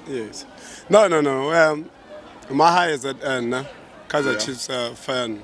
Yes. No, no, no. Um, my high is at end, nah? Kaiser yeah. Chiefs uh, fan.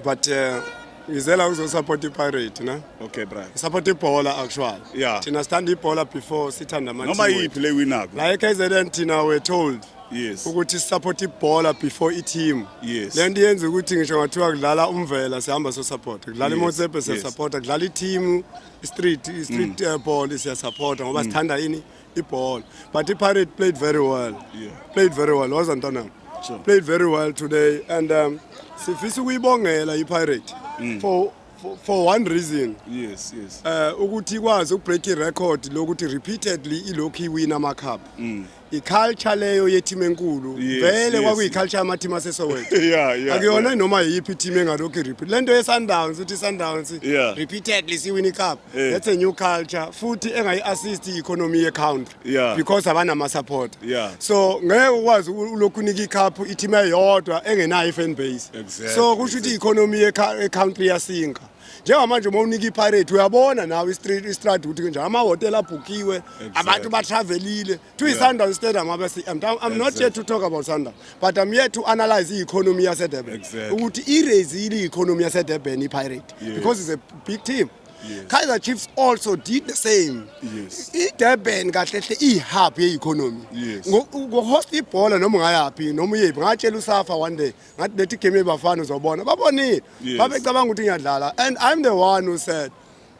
But uh, ngizela ukuzosapota ipirate na okay bra support ibhola actual yeah. thina sithanda ibhola before sithanda ama noma yiphi le winako la eKZN thina we told yes ukuthi support ibhola before i-team yes le nto yenza ukuthi ngisho ngathiwa kudlala umvela sihamba so support kudlala imotsebe siya support kudlala i-team street street mm. uh, ball siya support ngoba mm. sithanda ini ibhola but ipirate played very well yeah. played very well waza ntanam sure. played very well today and um, sifisa ukuyibongela ipirate mm. for for, for one reason yes yes uh ukuthi ikwazi ukubreak irecord lokuthi repeatedly ilokhu iwina ama cup mm. iculture leyo yeteam enkulu yes, vele yes. kwakuyiculture ama team asesowethu yeah, yeah, akuyona yeah. noma yiphi team engalokhu repeat lento ye Sundowns uthi Sundowns yeah. repeatedly siwina icup Eh. that's a new culture futhi engayi-assist i-economy ye-country Yeah. because abanama-support Yeah. so ngeke ukwazi uku- ulokhu unika ikhaphu i-team eyodwa engenayo i-fan base Exactly, so kusho ukuthi i-economy yekha- ye-country iyasinka njengamanje uma unika ipirate uyabona nawe i-street- i-strad ukuthi kunjani amahhotela abhukiwe abantu batravelile to yeah. Sundowns Stadium abe CM. I'm exactly. not here to talk about Sundowns, but I'm here to analyze the economy of Durban. Exactly. Ukuthi i-raise the economy of Durban i-Pirate yes. because it's a big team. Yes. Kaizer Chiefs also did the same. Yes. IDurban kahle hle ihub yeeconomy. Yes. Ngohost ibhola noma ungayaphi noma uyephi ngatshela uSafa one day ngathi lethi game yebafana uzobona. Babonile. Yes. Babecabanga ukuthi ngiyadlala and I'm the one who said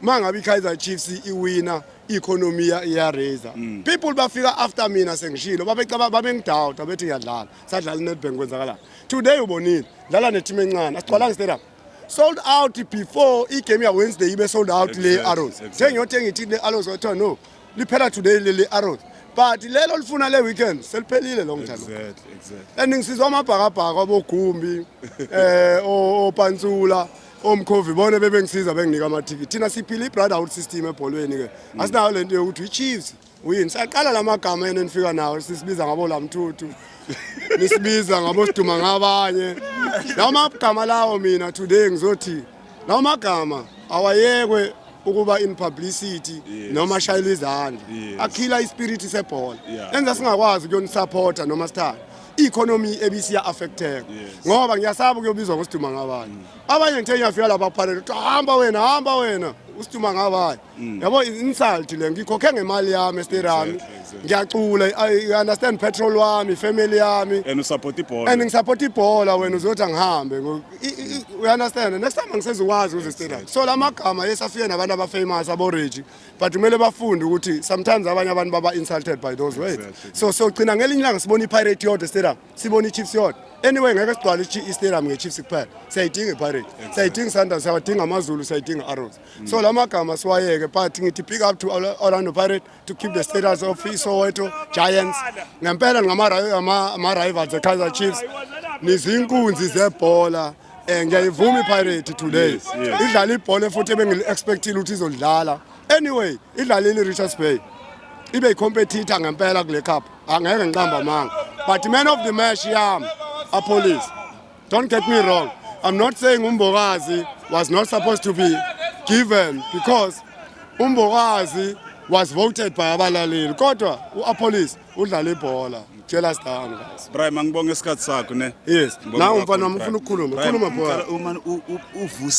uma ngabe i-kaizer chiefs iwina i-economy iyaraiser mm. people bafika after mina sengishilo babengidawuta bethi ngiyadlala sadlala i-netbank kwenzakalani today ubonile dlala neteam encane asigcwalanga stadium sold out before igame yawednesday ibe sold out le arrows sengiyothenga ithi le arrows wathiwa no liphela today leli arrows but lelo lifuna le weekend seliphelile lo mdlalo exactly exactly and ngisizwa amabhakabhaka obogumbi eh opantsula oh, omkhovi bona bebengisiza benginika amathikithi thina siphila i-brotherhood system ebholweni-ke mm. asinayo le nto yokuthi i-chiefs uyini saqala la magama yena enifika nawo sisibiza ngabo la mthuthu nisibiza ngabo siduma ngabanye lawo magama lawo mina today ngizothi lawo magama awayekwe ukuba in publicity yes. noma shayela izandla yes. akhila ispirit sebhola yeah. enza singakwazi ukuyonisupporta noma sithanda i-economy ebisiya affecteka ngoba ngiyasaba kuyobizwa ngosiduma ngabanye mm. abanye ngithe ngiyafika lapha phalele kuthiwa hamba wena hamba wena usiduma ngabanye mm. yabo insult le ngikhokhe ngemali yami estirami ngiyacula i understand petrol wami family yami and usupport ibhola and ngisupport ibhola wena uzothi angihambe u understand next time angisezikwazi uze estirami so lamagama yesafike nabantu abafamous aboregi but kumele bafunde ukuthi sometimes abanye abantu baba insulted by those words exactly. so sogcina ngelinye ilanga sibona ipirate yodwa stadium sibona ichiefs yodwa anyway ngeke sigcwale istadium ngechiefs kuphela siyayidinga ipirate exactly. siyayidinga sundowns siyawadinga amazulu siyayidinga arrows mm. so la magama siwayeke but ngithi pick up to orlando pirate to keep the status of isoweto giants ngempela ngama-rivals ekaizer chiefs nizinkunzi zebhola Eh ngiyayivuma iPirate today. Yes, yes. Idlala ibhola futhi ebengili-expectile ukuthi izolidlala. Anyway, idlalile iRichards Bay. Ibe icompetitor ngempela kule cup. Angeke ngiqamba amanga. But man of the match yami aPolice. Don't get me wrong. I'm not saying uMbokazi was not supposed to be given because uMbokazi was voted by abalaleli kodwa uApolice udlala ibhola jealous down guys Brian angibonge isikhathi sakho ne yes nawe mfana wami ufuna ukukhuluma khuluma bhola uma uvusa